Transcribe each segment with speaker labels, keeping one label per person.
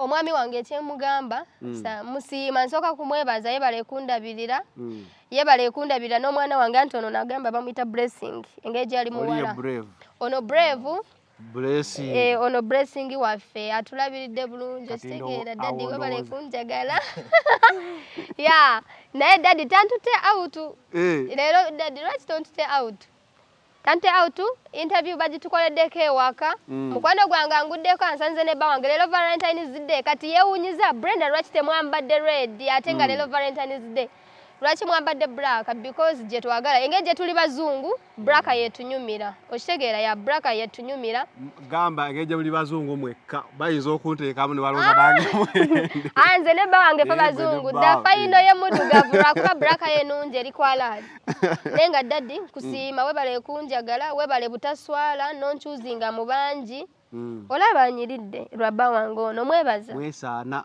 Speaker 1: omwami wange kyemugamba mm. musiima nsooka kumwebaza yebale kundabirira mm. yebale kundabirira n'omwana wange anti ono nagamba bamuyita blessing engeri gyali muwala ono brave Blessing. Eh,
Speaker 2: ono blessing
Speaker 1: waffe atulabiridde bulungi okitegeera daddy webale kunjagala ya naye daddy tantute out eh. leero daddy lwaki tontute out tantute out interview bagitukoleddeko ewaka mm. mukwano gwange anguddeko ansanze ne bba wange leero valentines day kati yewunyiza brenda lwaki temwambadde red ate nga mm. leero valentines day lwaki mwambadde black because gyetwagala engeri gyetuli bazungu braka yetunyumira okitegeera ya braka yetunyumira gamba ageje
Speaker 2: muli bazungu mwekka bayinza okunteekamu ne balonda nange ah! ah, nze
Speaker 1: ne bba wange fe bazungu dda fayino ye muddugavu lwakuba braka ye nungi eri kwalaali naye nga daddi nkusiima webale kunjagala webale butaswala nonkyuzinga mu bangi mm. olaba anyiridde lwa bba wange ono mwebaza mwesaana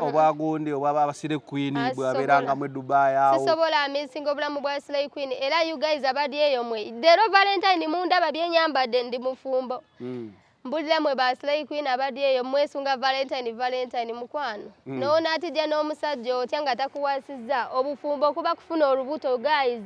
Speaker 1: obwagundi
Speaker 2: obwababasire queen ah, bwaberangamu edubai awo sisobola amisinga obulamu
Speaker 1: bwa slay queen era you guys abali eyo mwe lero valentine mundaba byenyambadde ndi mufumbo hmm. mbulira mwe ba slay queen abali eyo mwesunga valentine valentine mukwano hmm. noona atijja n'omusajja otya nga takuwasi Nkirizza obufumbo okuba kufuna olubuto guys.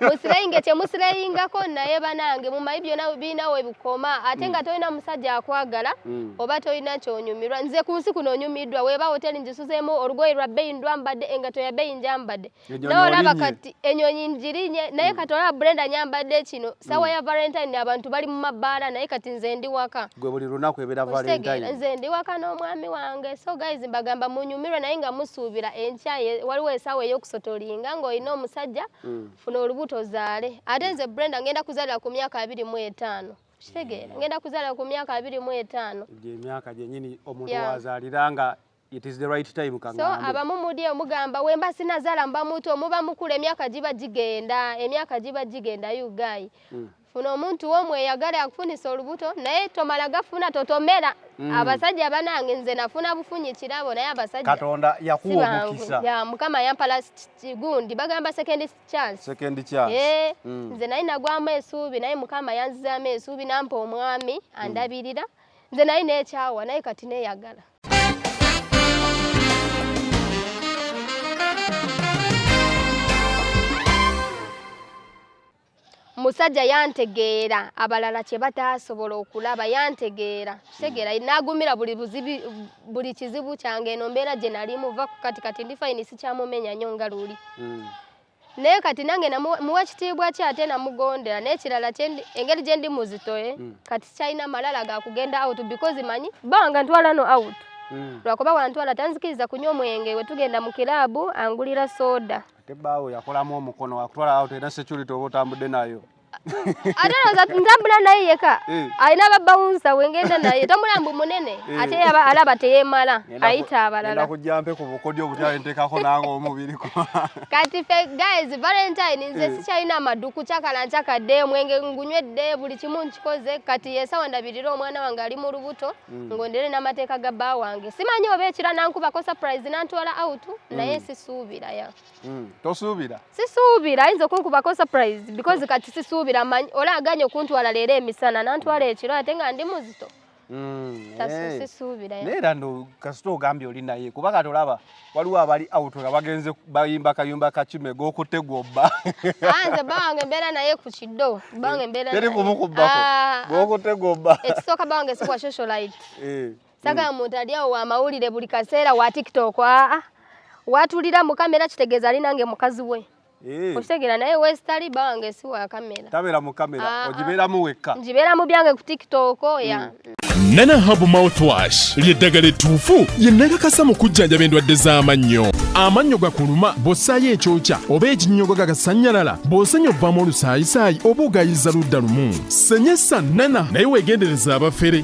Speaker 1: Musirayinge temusirayingako naye banange mumanyi byona birina we bikoma ate nga mm. tolina musajja akwagala mm. oba tolina kyonyumirwa nze ku nsi kuno onyumiddwa weba hoteli nzisuzeemu olugoye lwa bbeyi ndwambadde engato ya bbeyi njambadde naye olaba kati enyonyi njirinye naye mm. kati olaba brenda nyambadde kino sawa mm. ya valentine abantu bali mu mabbaala naye kati nze ndi waka gwe buli lunaku ebera
Speaker 2: valentine nze ndi waka n'omwami
Speaker 1: wange so guys mbagamba munyumirwe naye nga musuubira enkya waliwo esaawa ey'okusotolinga ng'olina omusajja mm. funa olubuto ozaale ate nze brenda ngenda kuzalira ku myaka abiri mu etaano kitegeera mm. ngenda kuzalira ku myaka abiri mu etaano gyemyaka gyenyini
Speaker 2: omuntu wazaalira nga It is the right time kangambe. So abamu mudi
Speaker 1: omugamba wemba sinazala mba muto muba mukula emyaka giba gigenda emyaka giba gigenda you guy mm. funa omuntu womwe eyagala akufunisa olubuto naye tomala gafuna totomera mm. abasajja banange nze nafuna bufunyi kirabo naye abasajja katonda yakuwa
Speaker 2: omukisa ya mukama yampa
Speaker 1: last gundi bagamba second chance second chance eh mm. nze naye nagwamu esuubi naye mukama yanzizamu esuubi nampa omwami hmm. andabirira mm. nze naye nekyawa naye kati neyagala omusajja yantegeera abalala kye bataasobola okulaba yantegeera kitegeera hmm. n'agumira buli kizibu kyange eno mbeera gye nalimu va ku kati kati ndi fayini sikyamumenya nnyo nga luli hmm. naye kati nange muwa ekitiibwa ki ate namugondera n'ekirala engeri gye ndi muzitoye eh? mm. kati kyalina malala ga kugenda out because manyi banga ntwala no out mm. lwakuba wantwala tanzikiriza kunywa omwenge we tugenda mu kiraabu angulira soda ate baawo yakolamu
Speaker 2: omukono wakutwala out era security oba otambudde nayo ate olowooza
Speaker 1: ntambula naye yeka eh. alina babawunsa wengenda naye tambula mbu munene eh. ate alaba teyemala ayita abalalakujampe ku bukodyo
Speaker 2: obutyalentekako nange omubiri kati fe
Speaker 1: guys valentine nze eh. sikyalina amaduku cakala ncakadde omwenge ngunywedde buli kimu nkikoze kati yesawa ndabirira omwana wange ali mu lubuto mm. ngondere n'amateeka ga bba wange simanyi oba ekira nankubako surprise nantwala out naye mm. sisuubira ya mm. tosuubira sisuubira ayinza okunkubako surprise because kati sisuubira manyi ola aganye okuntwala leero emisana nantwala ekiro ate nga ndi muzito mm, eh. sisuubira era no kasita
Speaker 2: ogambye oli naye kuba kati olaba waliwo abali out nga bagenze bayimba kayumba kakime gokutte gwobba ah, nze bawange
Speaker 1: mbeera naye ku kiddo bange mbeera teri kumukubbako ah, ah.
Speaker 2: gokutte gwobba ekisooka bange sikwa
Speaker 1: socialite eh. Sagala mm. muntu ali awo wa mawulire buli kaseera wa TikTok aa ah, ah. watulira mu kamera kitegeeza ali nange mukazi we. Eh. Okitegera naye wesitali bange si wa kamera. Tabera mu kamera ah,
Speaker 2: ogibeeramu wekka. Ngibeeramu byange ku
Speaker 1: TikTok ya. Mm. nana habu
Speaker 3: mouthwash lyeddagala ettuufu lye nakakasa mu kujjanjaba endwadde z'amannyo amannyo gakuluma bw'ossaayo ekyokya oba ekinnyogo gagasannyalala bw'osenya obvamu olusaayisaayi oba ogayiza ludda lumu senyesa nana naye weegendereza abafere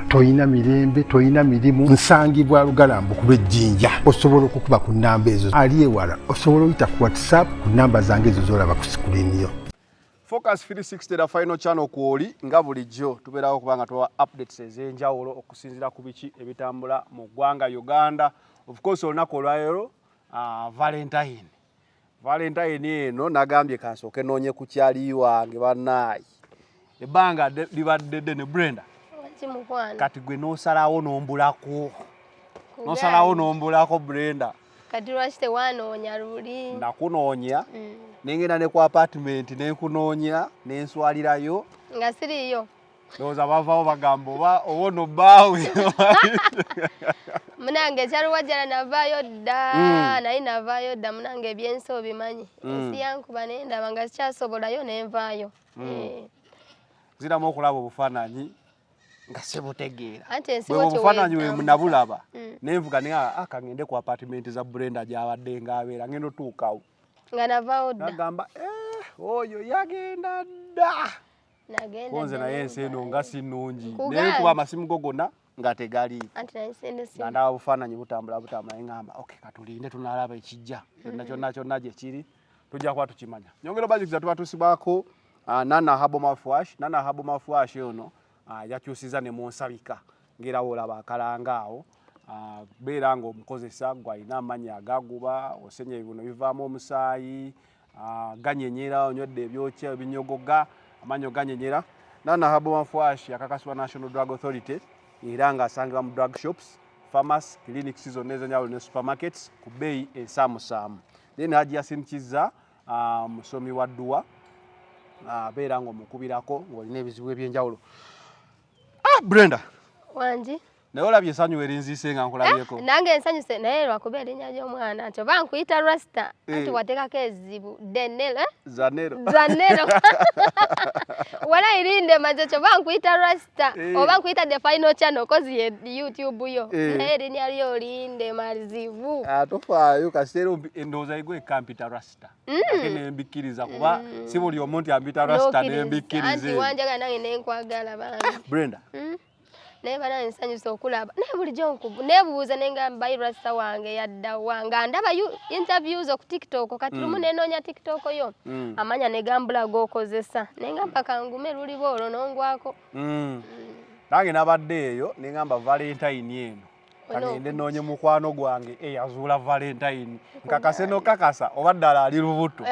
Speaker 4: tolina mirembe tolina mirimu nsangibwa lugalambu ku lwejjinja osobola okukuba ku nnamba ezo ali ewala osobola oyita ku whatsapp ku nnamba zange ezo zolaba ku sikuliniyo focus 360
Speaker 2: da final channel kwoli nga bulijjo tubeerawo kubanga tuwa updates ez'enjawulo okusinziira ku biki ebitambula mu ggwanga uganda of course olunaku olwaleero uh, valentine valentayini eno nagambye kansooke noonye ku kyali wange banaayi ebbanga libadde ddene brenda kati gwe nosalawo nombulako nosalawo nombulako brenda kati lwaki
Speaker 1: tewanoonya luli nakunoonya mm.
Speaker 2: nengenda ne ku apatimenti nenkunoonya nenswalirayo nga siriyo
Speaker 1: ndowooza bavawo
Speaker 2: bagamba oba owono bbaawe
Speaker 1: munange ekyaluwajjala navaayo dda hmm. naye navaayo dda munange ebyensi obimanyi hmm. ensi yankuba naye ndaba nga zikyasobolayo nenvaayo hmm.
Speaker 2: eh. ziramu okulaba obufaananyi nga sibutegeera obufaananyi
Speaker 1: wemunabulaba
Speaker 2: nenvuga naye akangende ah, ku apatimenti za brenda gyabadde ngaabeera ngenda otuukawo nga navaawo
Speaker 1: dda agamba eh,
Speaker 2: oyo yagenda dda konze naye ensi eno nga si nnungi naye kuba amasimu go gonna nga tegaliiko nga ndaba bufaananyi butambula butambula naye ngamba ok katulinde tunalaba ekijja kyonna kyonna kyonna gye kiri tujja kuba tukimanya nyongera obajukiza tuba tusibako ah, nana habo mafwash nana habo mafwash ono ah, yakyusiza ne munsabika ngera wolaba akalanga awo ah, beera nga omukozesa gwalina amanya agaguba osenya ebibuno bivaamu omusaayi Ah, ganyenyera onywedde ebyokya ebinyogoga amanyo ganyenyera nana habo wanfwashi akakasibwa national drug authority era nga asangibwa mu drug shops farmas clinic season ezanyawulo ne supermarkets ku bbeeyi ensaamusaamu then haji yasin kizza ah, musomi wa dduwa ah, abeera nga omukubirako ngaolina ebizibu ebyenjawulo ah, brenda wangi
Speaker 1: naye olabye esanyu
Speaker 2: werinziise nga nkulabyeko eh, nange ensanyuse naye
Speaker 1: lwakuba erinnya ly'omwana nti oba nkuyita rasta eh. anti wateekako ezibu denel eh? zanero zanero wala irinde maze kyo oba nkuyita rasta oba nkuyita the final channel kozi ye youtube yo naye erinnya lyo linde mazibu ah, tofaayo
Speaker 2: kasiteera endowooza yigo ekampita rasta mm. ate nembikkiriza kuba mm. si buli omu nti ambita rasta nembikkiriza wanjagala nange
Speaker 1: nenkwagala bambi brenda mm.
Speaker 2: naye
Speaker 1: bana nsanyuse okulaba naye bulijjo nebuuza nenga mbayi rasta wange yaddawa nga ndaba interviews oku tiktok kati lumu mm. nenoonya tiktok yo mm. amanya negambula gokozesa nenga mpaka ngume luliba olwo nongwako mm. mm. nange nabadde eyo nengamba valentine eno kagende noonye mukwano gwange eyazuula eh, valentine nkakase nokakasa oba ddala ali lubuto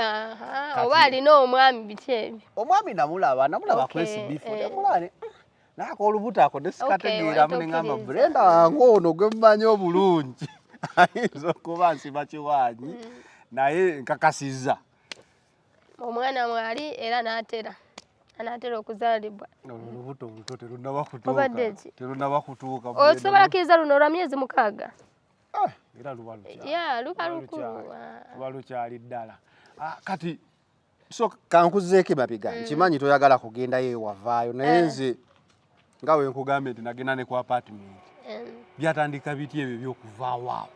Speaker 1: oba alina omwami biki ebyo omwami namulaba
Speaker 2: namulaba kwesibifo namulane naye akolubuto ako nesikategeeramu okay, neŋamba brenda wange ono gwe mumanyi obulungi ayinza okuba nsiba kiwaanyi mm. naye nkakasiza
Speaker 1: omwana mwali era n'atera anaatera okuzaalibwa olubuto
Speaker 2: oluto terunaba kutuukaterunaba kutuuka osobola kiriza luno
Speaker 1: olwa myezi mukaaga
Speaker 2: ah,
Speaker 1: era luba
Speaker 2: lukyali ddala ah, kati so kankuzeeko emabega mm. nkimanyi toyagala kugendayo ewavaayo naye eh. nze nga wenkugambye nti nagenda ne ku apartment eh. byatandika biti ebyo byokuvaawo awo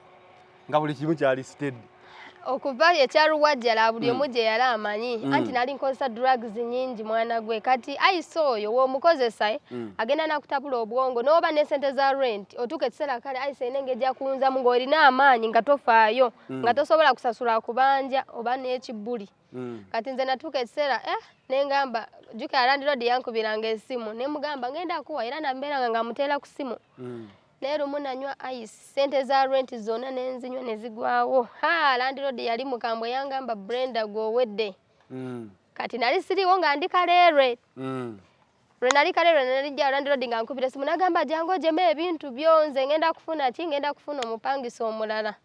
Speaker 2: nga buli kimu kyali stedi okuva
Speaker 1: ekyaluwajjala buli mm. omu gye yali amanyi mm. anti nali nkozesa drugs nyingi mwana gwe kati ayise oyo womukozesa eh, mm. agenda nakutabula obwongo noba ne sente za rent otuuka ekiseera kale ayise ene ngeja kunzamu ng'olina amaanyi nga tofaayo mm. nga tosobola kusasula kubanja oba n'ekibbuli mm. kati nze natuuka ekiseera eh, nengamba juka yalandirodi yankubiranga esimu nemugamba ngenda kuwa era nambeeranga nga muteera ku simu mm. naye lumu nanywa ice sente za renti zonna nenzinywa nezigwawo ha landirodi yali mukambwe yangamba brenda gwowedde mm. kati nali siriwo nga ndi kaleerwe mm. lwe nali kale lwe nali jja landlord nga nkubira esimu nagamba jangu ojemu ebintu byo nze ngenda kufuna ki ngenda kufuna omupangisa omulala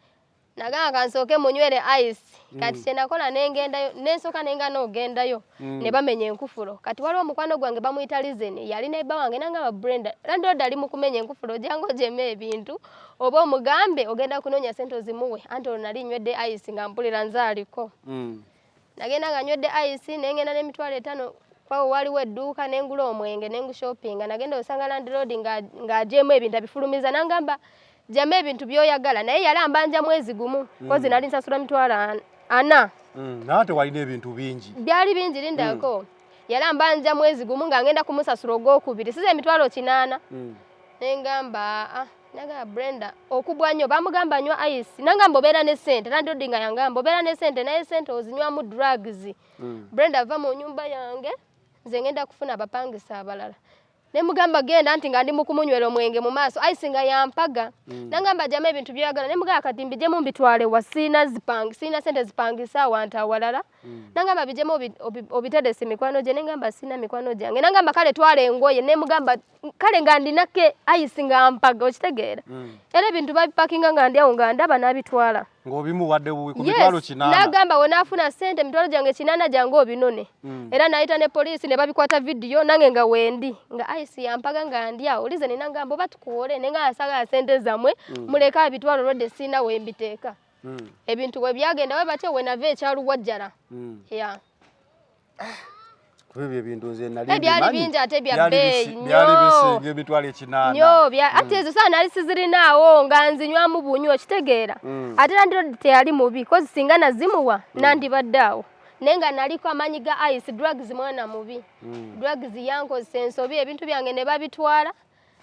Speaker 1: nagamba kansooke munywere ice mm. kati kyenakola nengendayo nensooka nenga nogendayo mm. ne bamenya enkufuro kati waliwo omukwano gwange bamuyita lizeni yali neba wange nangamba brenda landlord ali mu kumenya enkufuro jangu ojemu ebintu oba omugambe ogenda kunoonya sente ozimuwe anti olwo nali nywedde ice nga mpulira nze aliko mm. nagenda nga nywedde ice ne ngenda n'emitwalo etaano kwawo waliwo edduuka ne ngula omwenge ne ngushopinga nagenda osanga landiroodi ng'ajeemu ebintu abifulumiza nangamba jama ebintu byoyagala naye yali ambanja mwezi gumu mm. kozi nali nsasula mitwalo ana mm, nawe tewalina
Speaker 2: ebintu bingi byali bingi lindako
Speaker 1: mm. yali ambanja mwezi gumu nga ngenda kumusasula ogwokubiri siza emitwalo kinaana mm. nengamba aa nagamba brenda okubwa nnyo bamugamba nywa ice nangamba obeera ne sente landodi nga yangamba obeera ne sente naye sente ozinywamu drugs mm. brenda ava mu nyumba yange nze ngenda kufuna abapangisa abalala nemugamba genda nti nga ndi mukumunywera omwenge mu maaso ice nga yampaga mm. nangamba jama ebintu byoyagala nemugamba kati mbijemu mbitwale wa siina zipang siina sente zipangisa awantu awalala Mm. nangamba bijemu obitedesi mikwano gye nengamba sina mikwano gyange nangamba kale twala engoye nemugamba kale nga ndinake ayisi nga mpaga okitegeera mm. era ebintu babipakinga nga ndi awo nga ndaba nabitwala
Speaker 2: nagamba wenafuna
Speaker 1: sente mitwalo gyange kinana gyange obinone mm. era nayita ne polisi ne babikwata vidiyo nange nga wendi nga ayisi yampaga nga ndi awo lize ninangamba oba tukuwole nenga asagala sente zamwe muleke abitwala olwedde sina wembiteeka mm. ebintu bwe byagenda bwe batyo we nava ekyaluwajjala mm. ya
Speaker 2: kuba ebyo ebintu nze nali eh, byali bingi ate bya
Speaker 1: bbeeyi byali bisinga
Speaker 2: emitwalo ekinaana nyo mm. ate ezo
Speaker 1: saa nali sizirinaawo nga nzinywamu bunywa okitegeera mm. ate nandiro teyali mubi kozi singa nazimuwa mm. nandibadde awo naye nga naliko amaanyi ga ice drugs mwana mubi drugs yankozesa ensobi ebintu byange ne babitwala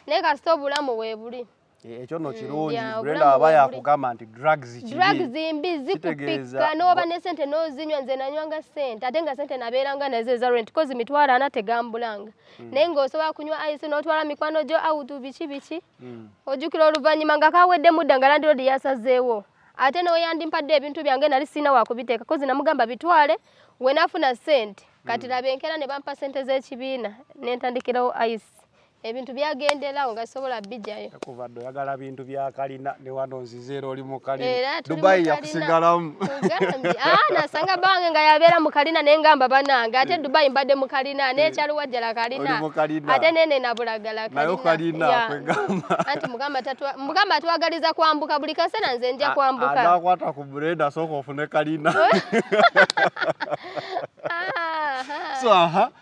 Speaker 1: naye kasita obulamu weebuli Eh, ekyo no mm,
Speaker 2: kirungi brenda aba yakugamba nti drugs drugs mbi
Speaker 1: zikupika n'oba ne sente n'ozinywa nze nanywanga sente ate nga sente nabeeranga nazo eza rent kozi mitwalo ana tegambulanga mm. naye ng'osobola kunywa ice n'otwala mikwano gyo awutu biki biki mm. ojjukira oluvannyuma nga kaweddemu dda nga landiroodi yasazeewo ate n'oyandimpadde ebintu byange nali sirina wakubiteeka kozi namugamba bitwale wenafuna sente kati laba enkeera ne bampa sente z'ekibiina nentandikirawo ice ebintu byagenderawo nga sobola bijayo kuva ddo yagala bintu
Speaker 2: byakalina ne wano nzize era oli mukalina dubayi yakusigalamu ah, nasanga bange nga yabeera mukalina naye ngamba banange ate eh. dubayi mbadde mukalina eh. nekyaliwajjala kalina ate nene nabulagala kalinanti
Speaker 1: mugamba twagaliza kwambuka buli kaseera nze nja kwambukakwata ku bureda
Speaker 2: sooka ofune kalina ah, so aha uh -huh.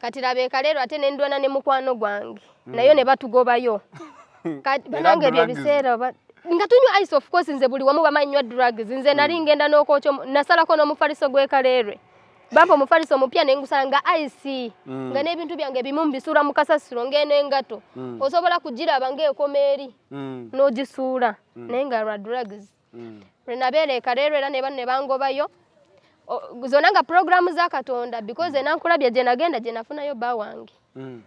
Speaker 1: kati laba ekaleero ate ne ndwana ne mukwano gwange hmm. nayo ne batugobayo banange ebyo ebiseera nga tunywa ice of course nze buli wamu bamanyi nywa drugs nze nali hmm. ngenda n'okwokyo nasalako n'omufaliso gw'ekaleerwe bampa omufaliso omupya ne ngusanga ice hmm. nga n'ebintu byange ebimu mbisuula mu kasasiro ng'eno engato osobola kugiraba ng'ekoma eri n'ogisuula naye nga lwa drugs mm. lwe nabeera ekareerwa era nebano ne bangobayo zona nga puroguramu za katonda because enankulabye gye nagenda gye nafunayo bba wange mm.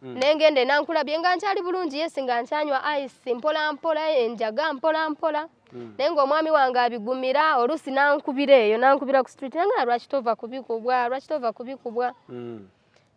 Speaker 1: Mm. nengenda enankulabye nga nkyali bulungi yesi nga nkyanywa ice mpolampola enjaga mpolampola mm. naye ngaomwami wange abigumira oluusi nankubira eyo nankubira ku street naye nga lwaki tova kubikubwa lwaki tova kubikubwa mm.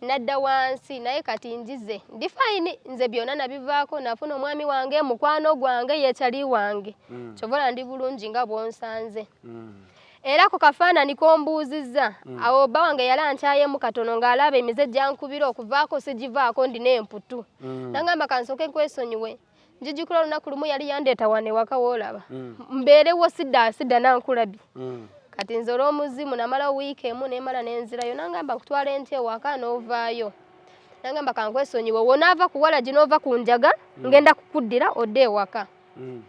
Speaker 1: nadda wansi naye kati njize ndi fayini nze byonna nabivaako nafuna omwami wange mukwano gwange yekyali wange mm. kyobola ndi bulungi nga bwonsanze mm. era ku kafaanani kombuuzizza mm. awo bba wange yali ankyayemu katono ng'alaba emize gyankubira okuvaako sigivaako ndina emputu mm. nangamba kansooke nkwesonyiwe njijukira olunaku lumu yali yandeeta wano ewaka woolaba mm. mbeerewo sidda sidda nankulabi mm. kati nze olw'omuzimu namalawo wiiki emu nemala nenzirayo nangamba nkutwala enti ewaka n'ovaayo nangamba kankwesonyiwe wonaava kuwala gi n'ova ku njaga mm. ngenda kukuddira odde ewaka mm.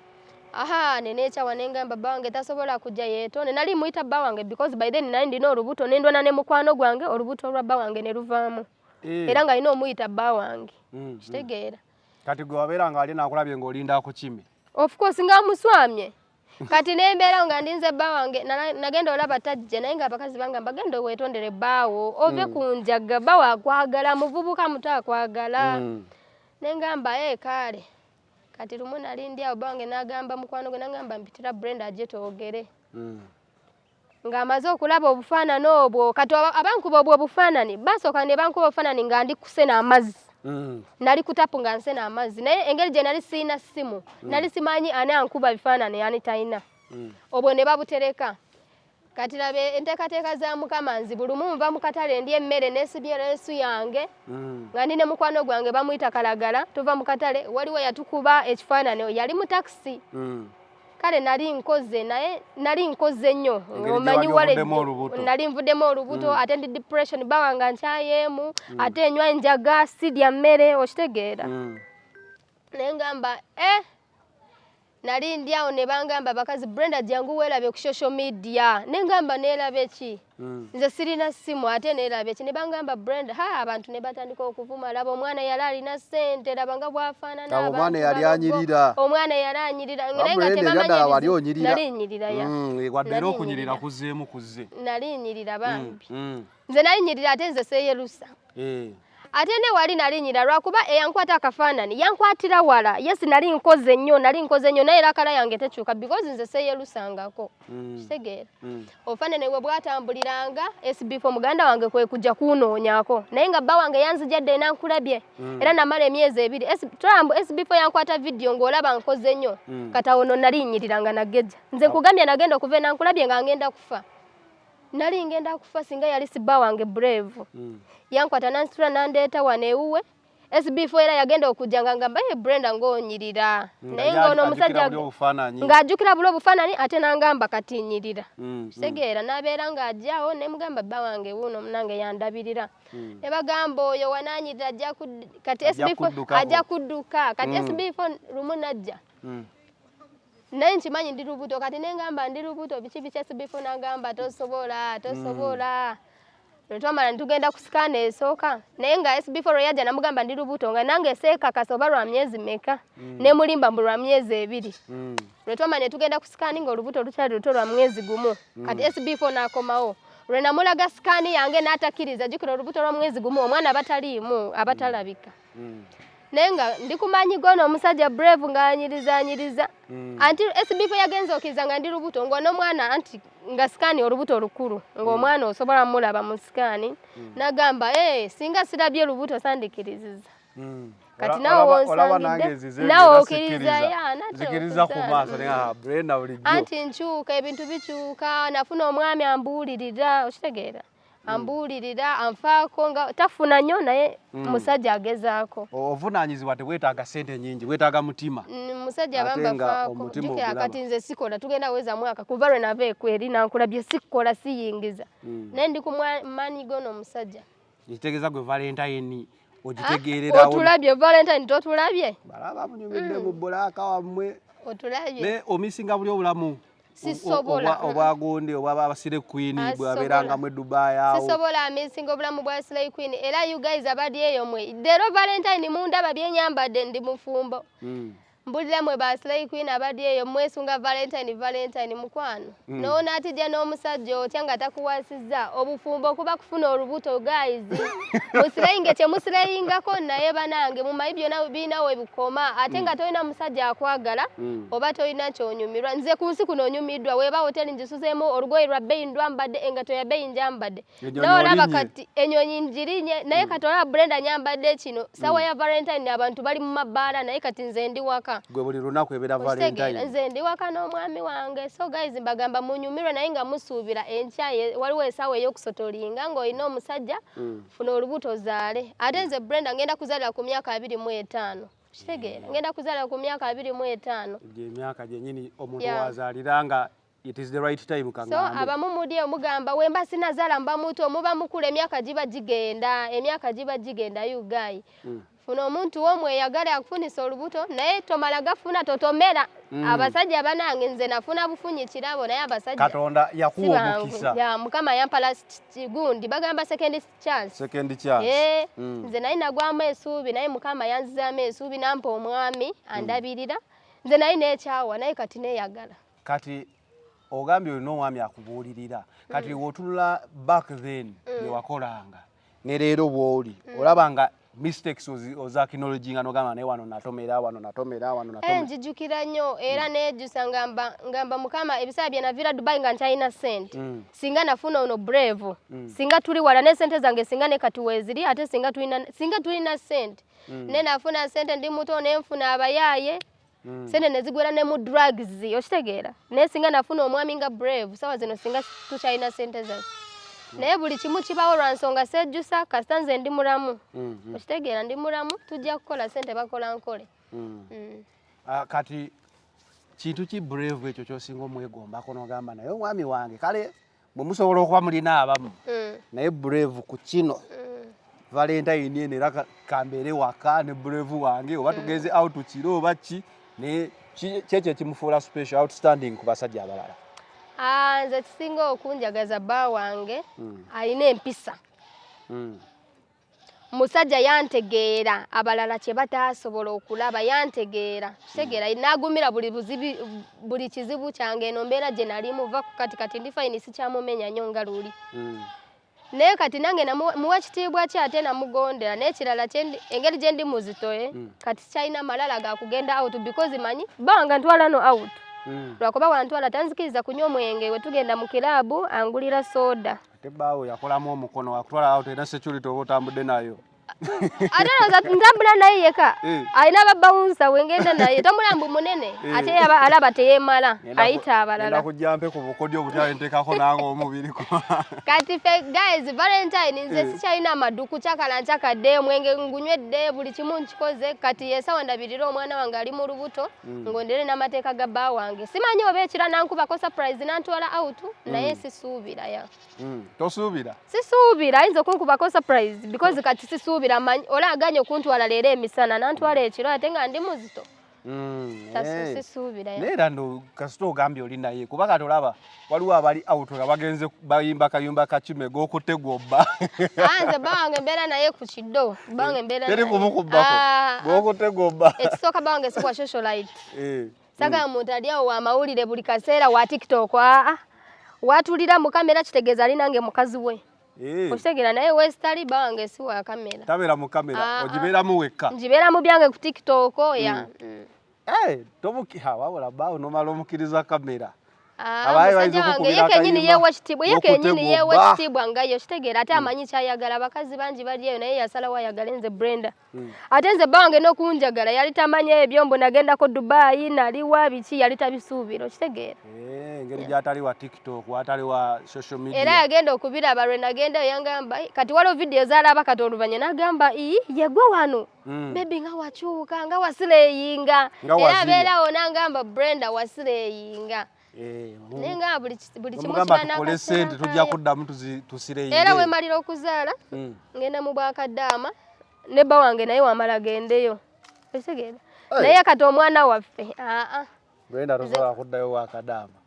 Speaker 1: aha nenekyawa nengamba bba wange tasobola kujja yeeto nenali muyita bba wange because by then nali ndina olubuto nendwana ne mukwano gwange olubuto olwa bba wange ne luvaamu eh. era nga alina omuyita bba wange mm, kitegeera kati
Speaker 2: gwe wabeera nga wali
Speaker 1: nakulabye
Speaker 2: nga olinda akukime
Speaker 1: of
Speaker 2: course nga muswamye
Speaker 1: kati nembeera nga ndinze bba wange nagenda olaba tajja naye nga abakazi bange mbagenda owetondere bbaawo ove mm. ku njaga bba wakwagala muvubuka muto akwagala mm. nengamba e eh, kaale kati lumu nalindi awo bba wange nagamba mukwano gwe nagamba mpitira brenda aje twogere mm. ng'amaze okulaba obufaanani obwo kati abankuba obwo obufaanani basooka ne bankuba obufaanani nga ndi kusena amazzi mm. nali kutapu nga nsena amazzi naye engeri gye nali sirina ssimu mm. nali simanyi ani ankuba bifaanani ani talina mm. obwo ne babutereka kati labe enteekateeka za mukama nzi buli mu nva mu katale ndi emmere nesibye leesu yange nga ndi ne mukwano gwange bamuyita kalagala tuva mu katale waliwo yatukuba ekifaanani yali mu takisi kale nali nkoze naye nali nkoze nnyo omanyi wale nali nvudemu olubuto mm. ate ndi depression bawanga nkyayemu mm. ate enywa enjaga sidya mmere okitegeera mm. naye ngamba eh nali ndi awo ne bangamba bakazi brenda jangu weerabye ku social media naye ngamba neerabye ki Mm. nze sirina simu ate neerabye ki ne bangamba brenda ha abantu ne batandika okuvuma laba omwana yali alina ssente laba nga bwafaanana Laba omwana abantu yali balogo. anyirira.
Speaker 2: omwana yali anyirira Wabula naye
Speaker 1: nga eno tebamanyi ebyadala wali ebizibu. onyirira. nali nyirira ya Mm, eh, wadde era Nali okunyirira
Speaker 2: nyirira. kuzzeemu kuzze nali nyirira Mm,
Speaker 1: bambi mm, nze nali nyirira ate nze seyerusa eh. ate ne wali nali nyira lwakuba eyankwata akafaanani yankwatira wala yes nali nkoze nnyo nali nkoze nnyo naye era kala yange tekyuka because nze seyelusangako mm. kitegeera mm. obufanane we bwatambuliranga sbf muganda wange kwe kujja kunoonyako naye nga bba wange yanzijadde enankulabye mm. era namala emyezi ebiri tulambu sbf yankwata vidiyo ng'olaba nkoze nnyo kata ono naliyinyirira nga nageja nze nkugambye nagenda okuva enankulabye nga ngenda kufa nali ngenda kufa singa yali sibba wange brave yankwata nansitula nandeeta wano ewuwe SB4 era yagenda okujja nga ngamba ye Brenda ng'onyirira naye ng'ono omusajja ng'ajjukira bula obufaananyi ate n'angamba kati nyirira mm, mm. kitegeera n'abeera ng'ajjawo ne mugamba bba wange wuuno munange yandabirira mm. ne bagamba oyo wanaanyirira kati SB4 ajja kudduka kati SB4 lumu najja naye nkimanyi ndi lubuto kati ne ngamba ndi lubuto biki biki SB4 n'agamba tosobola tosobola netwamala netugenda ku sikaana esooka naye nga sb4 lweyajja namugamba ndi lubuto nga nange seekakasa oba lwa myezi meka mm. nemulimba mbu lwa myezi ebiri mm. lwetwamala netugenda ku sikaani nga olubuto lukyali luto lwa mwezi gumu mm. kati sb4 nakomawo lwe namulaga sikaani yange n'atakkiriza jjukira olubuto lwa mwezi gumu omwana abataliimu abatalabika mm. naye nga ndi kumanyi gona omusajja brave nga anyiriza anyiriza mm. anti sbf yagenza okiriza nga ndi lubuto nga n'omwana anti nga sikaani olubuto lukulu ng'omwana mm. osobola mulaba mu sikaani mm. nagamba e singa sirabye lubuto sandikiriziza mm. kati nawe wonsangiddenawe okiriza yanzikiriza ku maaso
Speaker 2: anti nkyuka
Speaker 1: ebintu bikyuka nafuna omwami ambuulirira okitegeera Mm. ambuulirira anfaako nga tafuna nnyo naye mm. musajja agezaako obuvunaanyizibwa
Speaker 2: tebwetaaga sente nyingi bwetaaga mutima mm, musajja
Speaker 1: bambafaakojukira kati nze sikola tugenda weza mwaka kuva lwe nava ekweri nankula bye sikola siyingiza naye ndi ku maanyi gono omusajja ekitegeeza gwe
Speaker 2: valentayini ah, ogitegeererawo otulabye valentayini
Speaker 1: totulabye balaba munyumidde
Speaker 2: mu bulaaka wammwe otulabye
Speaker 1: omisinga buli
Speaker 2: obulamu
Speaker 1: obwagundi
Speaker 2: obwabasire queen ah, bwaberangamu edubai awo sisobola amisinga obulamu
Speaker 1: bwa slay queen era you guys abali eyo mwe dero valentine mundaba byenyambadde ndi mufumbo mm. mbulira mwe ba slay queen abali eyo mwesunga valentine valentine mukwano mm. nowona atijja n'omusajja otya nga takuwasi kitegeeza obufumbo kuba kufuna olubuto guys musireyinge kyemusireyingako naye banange mumanyi byona birina webikoma ate mm. nga tolina musajja akwagala mm. oba tolina kyonyumirwa nze ku nsi kuno onyumiddwa weba hoteli njisuzeemu olugoye lwa bbeyi ndwambadde engato ya bbeyi njambadde naye olaba kati enyonyi njirinye naye mm. kati olaba brenda nyambadde kino sawa mm. ya valentine abantu bali mu mabbaala naye kati nze ndi waka gwe buli lunaku ebeera
Speaker 2: valentine nze ndi waka n'omwami
Speaker 1: wange so guys mbagamba munyumirwe naye nga musuubira enkya waliwo esaawa ey'okusotolinga ng'olina omusajja mm. funa olubuto zaale ate nze brenda ngenda kuzalira ku myaka abiri mu etaano kitegeera ngenda kuzalira ku myaka abiri mu etaano gyemyaka gyenyini
Speaker 2: omuntu wazalira nga It is the right time kangambe. So abamu mudi
Speaker 1: omugamba wemba sina zala mba mutu omuba mukule emyaka jiba jigenda emyaka jiba jigenda you guy. Mm. Funo omuntu wo mweyagale akufunisa olubuto naye tomala gafuna totomera. Mm. Abasajja banange nze nafuna bufunyi kirabo naye abasajja. Katonda yakuwa
Speaker 2: omukisa. Ya mukama yampa
Speaker 1: last gundi bagamba second chance. Second chance. Eh. Mm. Nze naye nagwa amesubi naye mukama yanziza amesubi nampa omwami mm. andabirira. Mm. Nze naye nekyawa naye kati neyagala. kati
Speaker 2: ogambye olina omwami akubuulirira kati mm. wotunula back then mm. byewakolanga ne leero bwoli mm. olaba nga mistakes oza kinology nga nogamba naye wano natomera wano natomera wano natomera eh, njijukira
Speaker 1: nnyo era mm. nejusa ngamba ngamba mukama ebisaa bye navira dubai nga nkyalina sent mm. singa nafuna ono brave mm. singa tuli wala ne sente zange singa ne kati weziri ate singa tulina singa tulina sent mm. ne nafuna sente ndi muto ne nfuna abayaye mm. sente nezigwera ne mu drugs okitegeera naye singa nafuna omwami nga brave sawa zino singa tukyalina sente zaffe mm. naye buli kimu kibawo lwa nsonga sejjusa kasita nze ndi mulamu mm, mm. okitegeera ndi mulamu tujja kukola sente bakola nkole mm. mm.
Speaker 2: uh, kati kintu ki brave ekyo kyosinga omwegombako nogamba naye omwami wange kale bwe musobola okuba mulina abamu mm. naye brave ku kino mm. valentine eno era kambeere waka ne brave wange oba mm. tugenze out kiro oba ki naye kyekyo ekimufuula special outstanding ku basajja abalala ah, nze
Speaker 1: kisinga okunjagaza bba wange alina empisa musajja yantegeera abalala kye bataasobola okulaba yantegeera kitegeera hmm. nagumira buli buzibi buli kizibu kyange eno mbeera gye nali muva ku kati kati ndi fayini sikyamumenya nnyo nga luli hmm. naye kati nange muwa kitiibwa ki ate namugondera n'ekirala engeri gye ndi muzitoye hmm. kati sikyalina malala ga kugenda out because manyi banga ntwala no out lwakuba wantwala tanzikiriza kunywa omwenge we tugenda mu kiraabu angulira soda ate baawo yakolamu
Speaker 2: omukono wakutwala awo tolina security oba otambudde nayo ate
Speaker 1: olowooza ntambula naye yeka eh. alina ababawunsa wengenda naye tambula mbu munene eh. ate alaba teyemala ayita abalala kujja mpe ku bukodyo
Speaker 2: obutya ntekako nange omubiri kati fe
Speaker 1: guys valentine nze eh. sikyalina amaduku kyakala nkyakadde omwenge ngunywedde buli kimu nkikoze kati yesawa ndabirira omwana wange ali mu lubuto mm. ngondere n'amateeka ga bba wange simanyi oba ekira nankubako surprise nantwala out mm. naye sisuubira ya mm. tosuubira
Speaker 2: sisuubira ayinza
Speaker 1: okunkubako surprise because kati sisuubira manyi ola aganye okuntwala leero emisana nantwala ekiro ate nga ndi muzito mm. tasisisuubira eh. naye era no kasita
Speaker 2: ogambye oli naye kuba kati olaba waliwo abali auto nga bagenze bayimba kayumba kakime gokutte gwobba ah, nze bawange
Speaker 1: mbeera naye ku kiddo bawange mbeera teri kumukubbako ah,
Speaker 2: gokutte ah. gwobba ekisooka bawange sikuwa
Speaker 1: social life eh, sagala mm. muntu ali awo wamawulire buli kaseera wa tiktok aa watulira mu kamera kitegeeza ali nange mukazi we eh. okitegeera naye wesitali bawange siwa kamera tabeera mu kamera
Speaker 2: ogibeeramu wekka ngibeera mu byange ku
Speaker 1: tiktok ya mm. mm. Eh, tomukiha
Speaker 2: wabula bba onomala omukiriza kamera ah, musajja
Speaker 1: wange ye kenyini yewa ekitiibwa ye kenyini yewa ekitiibwa nga yo kitegeera ate hmm. amanyi kyayagala abakazi bangi bali eyo naye yasalawo ayagale nze brenda hmm. ate nze bba wange n'okunjagala yali tamanyi ebyo mbu nagendako dubayi naliwa biki yali tabisuubira okitegeera eh, engeri gyatali
Speaker 2: wa tiktok watali wa social media era yagenda okubiraba
Speaker 1: lwe nagendayo yangamba kati waliwo vidiyo zaalaba kati oluvanyuma nagamba ii yegwe wano Mm. Baby nga wakyuka nga wasileyinga era abeera wona ngamba Brenda wasileyinga eh, naye nga buli kimu kibanakole sente tujja
Speaker 2: kuddamu tusileyinga era wemalira okuzaala
Speaker 1: mm. ngenda mu bwakaddaama ne bba wange naye wamala gendeyo otegeera naye kati omwana waffe aa Brenda
Speaker 2: tosobola kuddayo wakadaama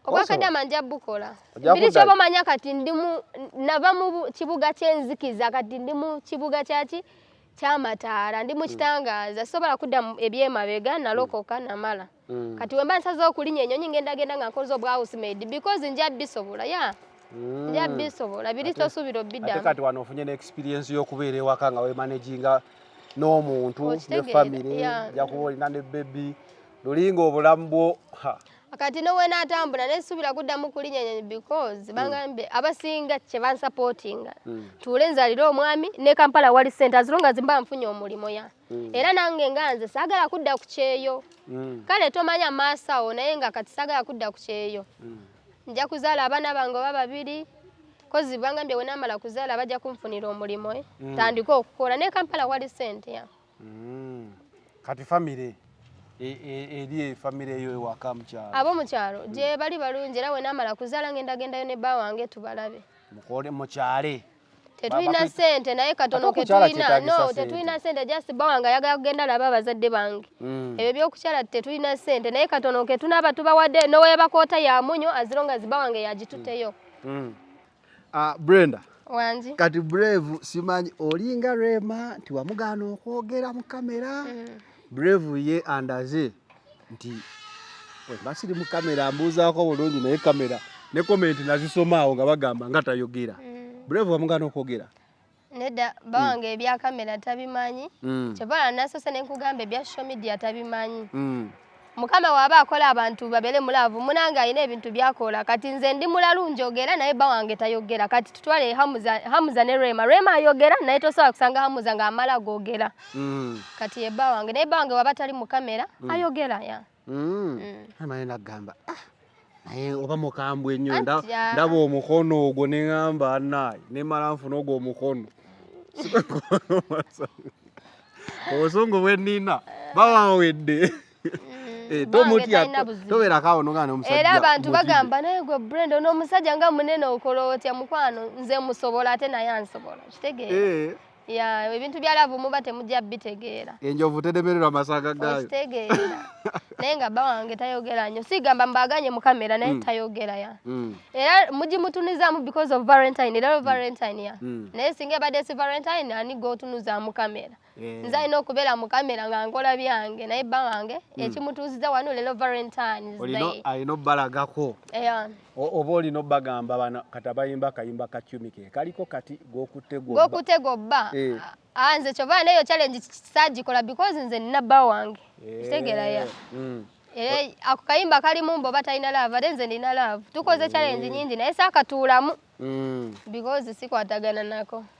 Speaker 2: obwakadama
Speaker 1: nja bukola biri kyoba omanya kati ndimu nava mu kibuga kyenzikiza kati ndi mu kibuga kyaki kyamataala ndi mukitangaza mm. sobola kudda ebyemabega nalokoka mm. namala mm. kati wemba nsaza okulinya enyonyi ngendagenda nga nkoze obwahousemade because nja bisobola ya yeah. Mm. nja bisobola biri tosuubira obiddamu kati wano ofunye ne
Speaker 2: experience y'okubeera ewaka nga wemanaginga n'omuntu ne famire jakuba olina ne bebi lulinga obulamu bwo kati
Speaker 1: nowenatambula naye subira kuddamu kulinyanya because hmm. bangambye abasinga kyebansapotinga hmm. tuule nzalire omwami ne kampala wali sente azilonga zimba nfunye omulimo ya hmm. era nange nga nze sagala kudda ku kyeyo kale tomanya maaso awo naye nga kati sagala kudda ku kyeyo nja kuzaala abaana bange oba babiri kozi bangambye wenamala kuzaala bajja kunfunira omulimo eh? tandika okukola ne kampala wali sente ya mm.
Speaker 2: kati famire e, e, eri e, famire eyo ewaka mukyalo abo mukyalo mm. gye
Speaker 1: bali balungi era wenamala kuzaala ngenda gendayo ne bba wange tubalabe mukole mukyale
Speaker 2: tetulina
Speaker 1: sente naye katono ketulina no tetulina sente just bba wange ayagala kugenda laba abazadde bange mm. ebyo byokukyala tetulina sente naye katono ketunaaba tubawadde nowebakoota yamunyo azironga ziba wange yagituteyo mm. Ah, Brenda.
Speaker 2: Wangi. Kati
Speaker 1: Brave
Speaker 2: simanyi olinga Rema nti wamugaana okwogera mu kamera. Mm. Brave ye andaze nti wemba siri mu kamera mbuuzaako bulungi naye kamera ne komenti nazisomaawo nga bagamba nga tayogera. Mm. Brave wamugaana okwogera. nedda hmm.
Speaker 1: bawange mm. ebya kamera tabimanyi mm. kyebala nasose nenkugamba ebya social media tabimanyi mm. mukama waba akola abantu babere mulavu munange alina ebintu byakola kati nze ndi mulalu njogera naye bawange tayogera kati tutwale hamuza, hamuza ne rema rema ayogera naye tosobola kusanga hamuza nga amala gogera mm. kati ye bawange naye bawange waba tali mukamera mm. ayogera ya Mm. Mm. Naye
Speaker 2: nagamba ah, naye oba mukambwe nnyo ah. ndaba omukono ogwo ne ŋamba naye ne mala nfuna ogwo omukono obusungu bwe nnina bawawedde mm. eh, tomutyatoberako awo nogana omusajja era abantu bagamba
Speaker 1: naye gwe brenda ono omusajja nga munene okola otya mukwano nze musobola ate naye ansobola kitegeera eh. ya ebintu bya love muba temujja bitegeera enjovu tedemererwa
Speaker 2: masanga gayo tegeera
Speaker 1: naye nga bba wange tayogera nnyo sigamba mbaganye mu kamera naye mm. tayogera ya mm. era mugimutunuzaamu because of valentine era mm. valentine ya mm. naye singa ebadde si valentine ani gwotunuzaamu kamera yeah. nze alina okubeera mu kamera nga nkola byange naye bba wange mm. ekimutuuziza wano lero valentine alina obalagako
Speaker 2: yeah. oba oli nobagamba bana kata bayimba kayimba ka tumi ke kaliko kati gokutte gobba gokutte
Speaker 1: gobba eh. ah, nze kyova neyo challenge kisagikola because nze nina bba wange eh. kitegera ya mm. eh, ako kayimba kali mumbo oba talina laavu ate nze nina laavu tukoze challenge nyingi naye saakatuulamu mm. because sikwatagana nako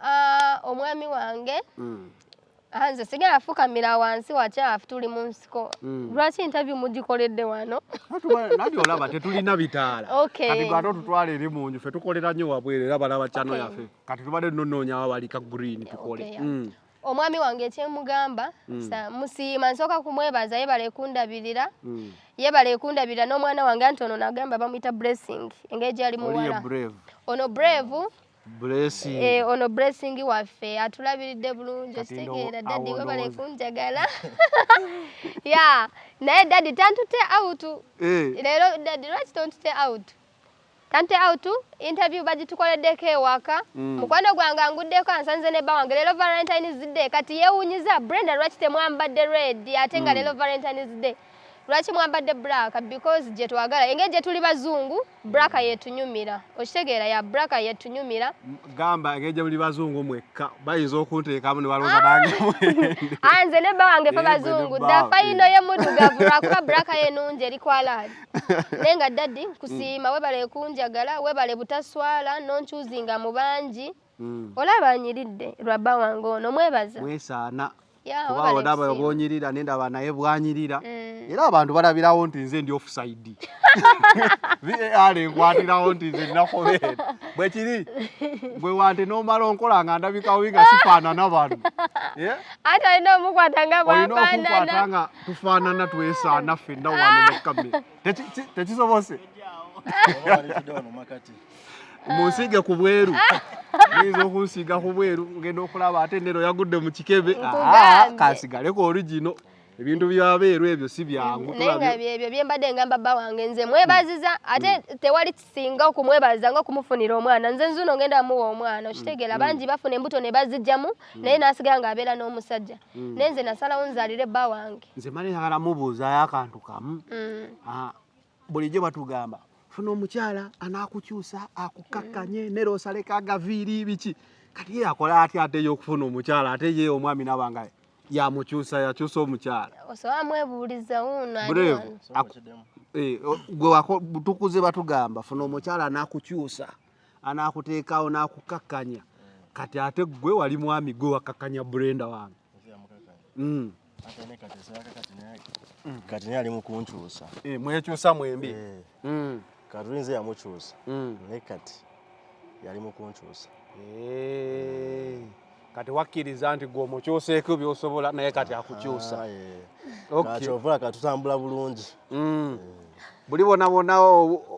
Speaker 2: Ah, omwami
Speaker 1: wange mm. ah, nze sigala fukamira wansi wakyafu tuli mu nsiko mm. lwaki interview mugikoledde wano nabyo olaba
Speaker 2: tetulina bitaala kati gwate otutwala eri mu nju fe tukolera nnyo wabwere era balaba kyano yaffe kati tubadde tunonoonya wabalika green tukole mm. omwami wange
Speaker 1: ekyemugamba musiima nsooka kumwebaza yebale kundabirira yebale ekundabirira n'omwana wange anti ono nagamba bamuyita blessing engeri gyali muwala ono brave Blessing.
Speaker 2: Eh, ono blessing
Speaker 1: waffe atulabiridde bulungi okitegeera dadi webale kunjagala ya naye dadi tantute out eh. leero dadi lwaki tontute out tantute out interview bagitukoleddeko ewaka mm. mukwano gwange anguddeko ansanze ne bba wange leero valentines day kati yewunyiza brenda lwaki temwambadde red ate nga mm. leero valentines day lwaki mwambadde black because gyetwagala engeri gyetuli bazungu braka mm. yetunyumira okitegeera ya braka yetunyumira gamba engeri
Speaker 2: gyemuli bazungu mwekka bayinza okunteekamu nebalooza nange ah! ah, nze
Speaker 1: ne bba wange fe bazungu dafayino ye mudugavu lwakuba braka yenungi eri kwalaali naye nga daddi nkusiima mm. webale kunjagala webale butaswala nonkyuzinga mu bangi mm. olaba anyiridde lwabba wange ono mwebaza mwesaana
Speaker 2: kuba olaba obwonyirira nendaba naye bwanyirira mm. era abantu balabirawo nti nze ndi offside var enkwatirawo nti nze ninakobeera bwekiri gwe wante nomala onkola nga ndabikawo nga sifaanana bano eh? ate
Speaker 1: olina omukwata nga bwafaanana nga
Speaker 2: tufaanana twesaana fenna wano mukamera tekisobose munsiige ku bweru oyinza okunsiiga ku bweru ngenda okulaba ate nero yagudde mu kikebe ah, kasigaleko origino ebintu byabeeru ebyo si byangu naye nga byebyo byembadde
Speaker 1: ngamba bba wange nze mwebaziza mm. ate mm. tewali kisinga okumwebaziza nga okumufunira omwana nze nzuno ngenda amuwa omwana mm. okitegeera bangi bafuna embuto ne bazijjamu naye n'asigala ng'abeera n'omusajja naye nze nasalawo nzalire bba wange nze mala yagala
Speaker 2: mubuuzayo akantu kamu ah, bulijjo batugamba funa omukyala anakukyusa akukakkanye nera osaleko agaviiri biki kati ye akola atya ate ye okufuna omukyala ate ye omwami nabanga yamukyusa yakyusa omukyala osobola mwebuuliza
Speaker 1: wuuno
Speaker 2: eh, tukuze batugamba funa omukyala anakukyusa anakuteekawo nakukakkanya kati ate gwe wali mwami gwe wakakkanya brenda wange
Speaker 5: kati naye ali mukunkyusa eh, mwekyusa mwembi
Speaker 2: eh. mm.
Speaker 5: katulinze yamukyusa mm. naye kati yali mukunkyusa eh.
Speaker 2: kati wakkiriza nti gwe omukyuseeko byosobola naye kati akukyusa
Speaker 5: ah, kyovula
Speaker 2: katutambula
Speaker 5: bulungi
Speaker 2: mm. buli bonabona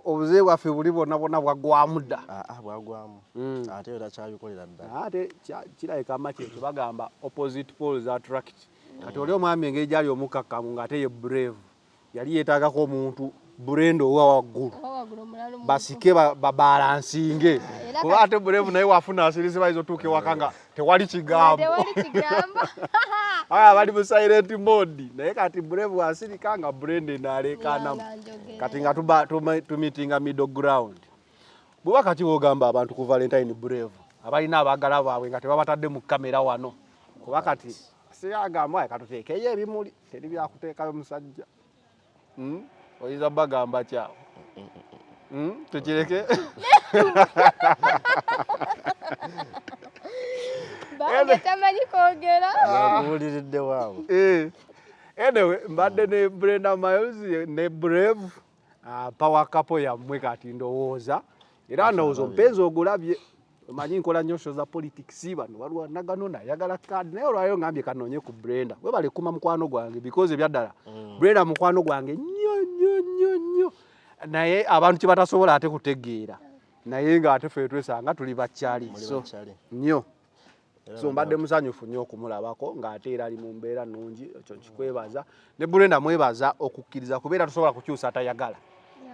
Speaker 2: obuzibu bwaffe buli bonabona bwagwamu dda ah, ah, bwagwamu
Speaker 5: mm. ate yo takyabikolera ddala ate kirabika
Speaker 2: maki ekyo bagamba opposite poles attract kati oli omwami engeri gyali omukakkamu ng'ate ye brave yali yeetaagako omuntu burenda owa waggulu basike babalansinge kuba ate burevu naye wafuna asirizi bayinza otuuka ewaka nga tewali kigambo aya bali mu silent mode naye kati burevu asirika nga burenda enaalekanamu kati nga tumitinga middle ground Bweba kati wogamba abantu ku Valentine Brave abalina abagala baabwe nga tebabatadde mu kamera wano kuba kati siyagamba katuteekeyo ebimuli teri byakuteekayo musajja hmm? oyinza bagamba kyawo hmm? tukireke
Speaker 1: anyway
Speaker 2: mbadde ne brenda miles ne brave Ah, power couple yammwe kati ndowooza era ndowooza omupenzi ogulabye manyi nkola nyo sho za politics bano waliwo nagano nayagala card naye olwayo ngambye kanonye ku brenda webale kuma mukwano gwange because ebyaddala mm. brenda mukwano gwange nyo nyo nyo nyo naye abantu kyebatasobola ate kutegeera naye nga ate fe twesanga tuli bakyali so nyo so mbadde musanyufu nnyo okumulabako ng'ate era ali mu mbeera nnungi ekyo nkikwebaza ne burenda mwebaza okukkiriza kubeera tosobola kukyusa atayagala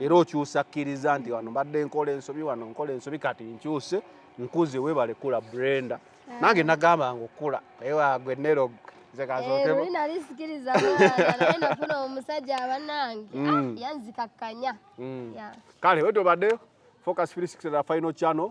Speaker 2: era okyusa akkiriza nti wano mbadde nkola ensobi wano nkola ensobi kati nkyuse nkuze webale kula brenda nange nagamba nga okula naye wagwe nero nze kazookemu
Speaker 1: nali sikiriza naye nafuna omusajja abanange mm. ah, yanzikakkanya mm.
Speaker 2: kale wetobadde focus 360 final channel